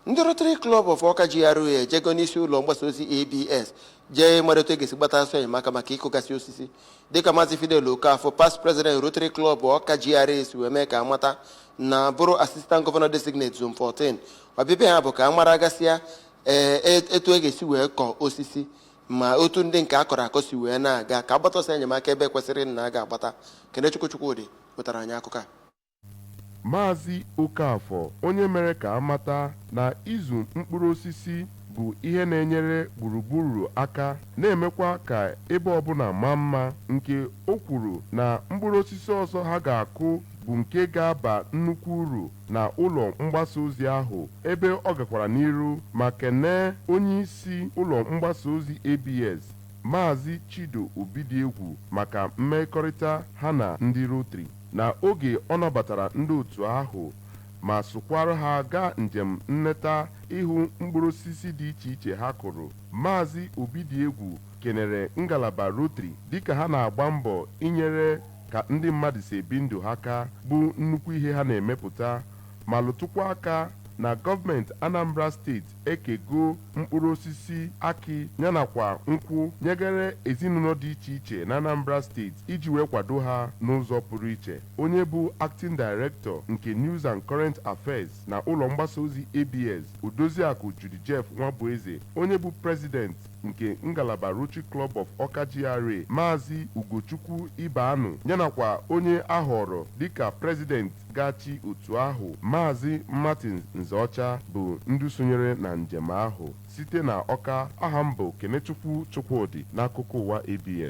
ndị Rotary Club of Awka GRA ejego n'isi ụlọ mgbasa ozi ABS jee mara etu e ga-esi gbata ọsọ enyemaka maka ịkụgasị osisi dịka Maazị Fidel Okafọ past president Rotary Club Awka GRA si wee mee ka a mata na bụrụ assistant governor designate zone 14 ọbịbịa ha bụ ka a mara gasịa ee etu e ga-esi wee kọọ osisi ma otu ndị nke a kọrọ akọ si wee na-aga ka a gbata ọsọ enyemaka ebe e kwesịrị na a ga-agbata Kenechukwu Chukwudị wetara anyị akụkọ a Maazị Okafor onye mere ka a mata na ịzụ mkpụrụ osisi bụ ihe na-enyere gburugburu aka na-emekwa ka ebe ọbụla maa mma nke o kwuru na mkpụrụ osisi ọzọ ha ga-akụ bụ nke ga-aba nnukwu uru na ụlọ mgbasa ozi ahụ ebe ọ gakwara n'iru ma kenee onyeisi ụlọ mgbasa ozi ABS Maazị Chido Obidiegwu maka mmekọrịta ha na ndị Rotary. na oge ọ nabatara ndị otu ahụ ma sokwara ha gaa njem nleta ịhụ mkpụrụ osisi dị iche iche ha kụrụ, Maazị Obidiegwu kenere ngalaba Rotary dịka ha na-agba mbọ inyere ka ndị mmadụ si ebi ndụ ha aka bụ nnukwu ihe ha na-emepụta ma lụtụkwa aka na gọọmenti Anambra steeti ekego mkpụrụ osisi akị yanakwa nkwụ nyegara ezinụlọ dị iche iche n'Anambra steeti iji wee kwado ha n'ụzọ pụrụ iche. Onye bụ Acting Director nke News and Current Affairs na ụlọ mgbasa ozi ABS, Odoziakụ Judy Jeff Nwabueze, onye bụ President, nke ngalaba Rotary Club of Awka GRA, Maazị Ugochukwu Ibeanụ yanakwa onye a họọrọ dịka President ga-achị otu ahụ, Maazị Martin Nzeọcha bụ ndị sonyere na njem ahụ. Site na Awka, aha m bụ Kenechukwu Chukwudị n'akụkọ ụwa ABS.